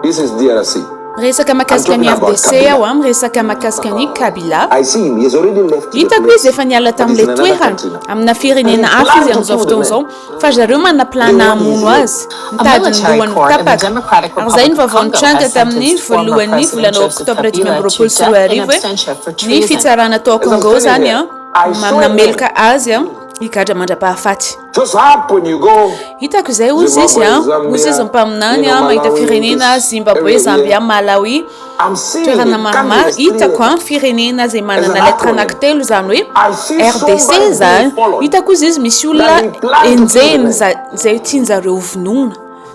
This is DRC. Miresaka makasika ny FDC aho an, miresaka makasika ny Kabila. Hitako izy efa niala tamin'ilay toerana amina firenena hafa izy amin'izao fotoana izao fa zareo manaplana hamono azy mitady ny lohany tapaka. Ary izay ny vaovao nitranga tamin'ny voalohan'ny volana oktobra dimy amby roapolo sy roa arivo hoe ny fitsarana tao Congo izany an, mameloka azy an higadra mandra-pahafaty. Hitako izay hozy izy a, hozy izy mpaminany a, mahita firenena Zimbabwe, Zambia, Malawi, toerana maromaro hitako a, firenena izay manana lettre anankitelo izany hoe RDC izany, hitako hozy izy misy olona enjehina izay tianjareo vonoina.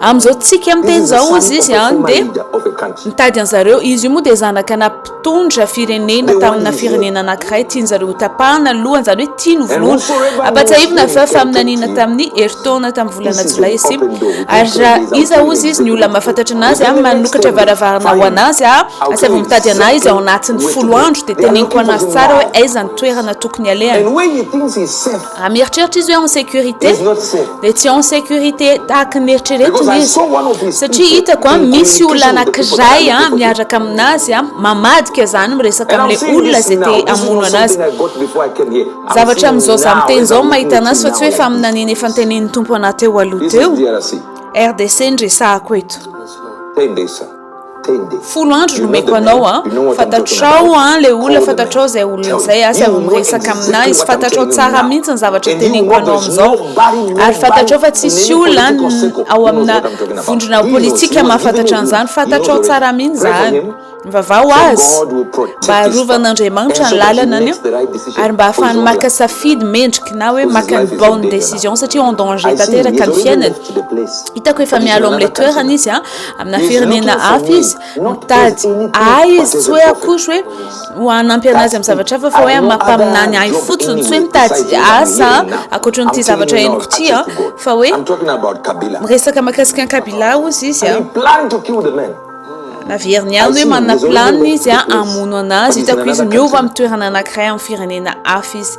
Amin'izao tsika miteny izao hozy izy an dia mitady an'zareo izy io moa dia zanaka na mpitondra firenena tamina firenena anankiray tian'zareo ho tapahana ny lohany izany hoe tia ny volohana ampatsahivina fa faminaniana tamin'ny herintaona tamin'ny volana jolay sy ary raha iza hozy izy ny olona mahafantatra anazy an manokatra varavarana ho anazy a asy avy mitady anay izy ao anatin'ny folo andro dia teneniko anazy tsara hoe aiza ny toerana tokony alehany Raha mieritreritra izy hoe en sécurité dia tsy en sécurité tahaka ny eritreretiny izy satria hitako a misy olona anankiray a miaraka aminazy a mamadika zany miresaka amin'ilay olona izay te hamono anazy zavatra amin'izao za miteny izao mahita anazy fa tsy hoe faminaniana efa ntenenin'ny tompo anah teo aloha teo RDC ny resahako eto Folo andro nomeko anao an! Fantatrao an le olona fantatrao zay olona zay aza miresaka aminah izy fantatrao tsara mintsy ny zavatra teneniko anao amizao ary fantatrao fa tsisy olona ao amina vondrona politika mahafantatra anzany fantatrao tsara mihitsy zany mivavaha ho azy mba arovan'Andriamanitra ny lalanany an ary mba hahafahany maka safidy mendrika na hoe maka ny bonne décision satria en danger tanteraka ny fiainany hitako efa mialo amle toerana izy an amina firenena hafa izy mitady ahy izy tsy hoe akory hoe ho hanampy anazy amin'ny zavatra hafa fa hoe mampaminany ahy fotsiny tsy hoe mitady asa ankoatra n'ity zavatra henoko ity a fa hoe miresaka makasika an'i Kabila hozy izy a naveriny ihany hoe manana planiny izy a hamono anazy hitako izy miova amin'ny toerana anankiray amin'ny firenena hafa izy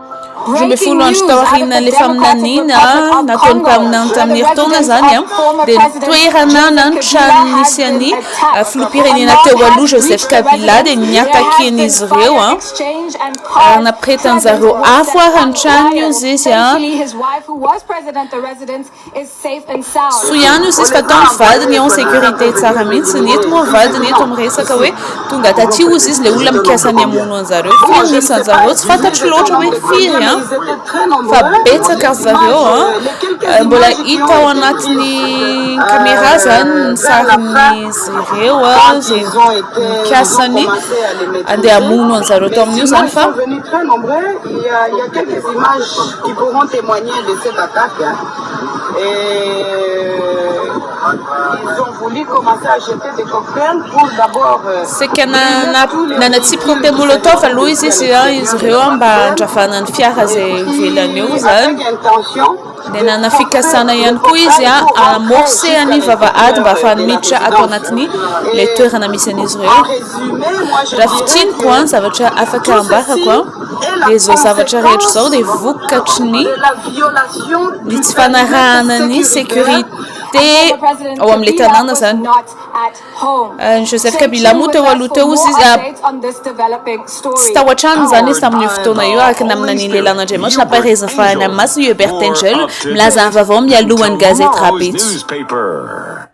roa ambin'ny folo andro tao aorianan'ilay faminaniana nataon'ny mpaminany tamin'ny herintaona izany, dia ny toerana na ny trano nisy an'ny filoham-pirenena teo aloha Joseph Kabila dia niatakian'izy ireo ary napiretan'izy ireo afo ary ny tranony hoy izy. Soa ihany io sisa fa tao ny vadiny en sécurité tsara mihitsy, ny eto moa vadiny eto miresaka hoe tonga taty ozy izy le olona mikasa ny hamono anzareo, firy ny isanzareo tsy fantatro loatra hoe firy an! fa betsaka ry zareo an! mbola hita ao anatin'ny caméra zany ny sarin'izy ireo an! ze mikasa ny andeha hamono anzareo tao amin'io zany fa. Qui pourront temoigner de cette attaque et ils ont voulu commencer à jeter des cocktails pour d'abord Saika nanatsipika teny molotov aloha izy izy ireo mba handravana ny fiara izay ivelany eo izany. dia nanana fikasana ihany koa izy hamorcer ny vavahady mba hahafahany miditra ato anatin'ny ilay toerana misy an'izy ireo. Raha fintiniko ny zavatra afaka ambarako. Dia izao zavatra rehetra izao dia vokatry ny ny tsy fanarahana ny sécurité ao amin'ilay tanàna izany. Ny Joseph Kabila moa teo aloha teo izy tsy tao an-trano izany izy tamin'io fotoana io araka ny amin'ny nanian'ilay lan'Andriamanitra nampahereza fahany amin'ny masina i Hubert Angel milaza ny vaovao mialohan'ny gazety Rabetso.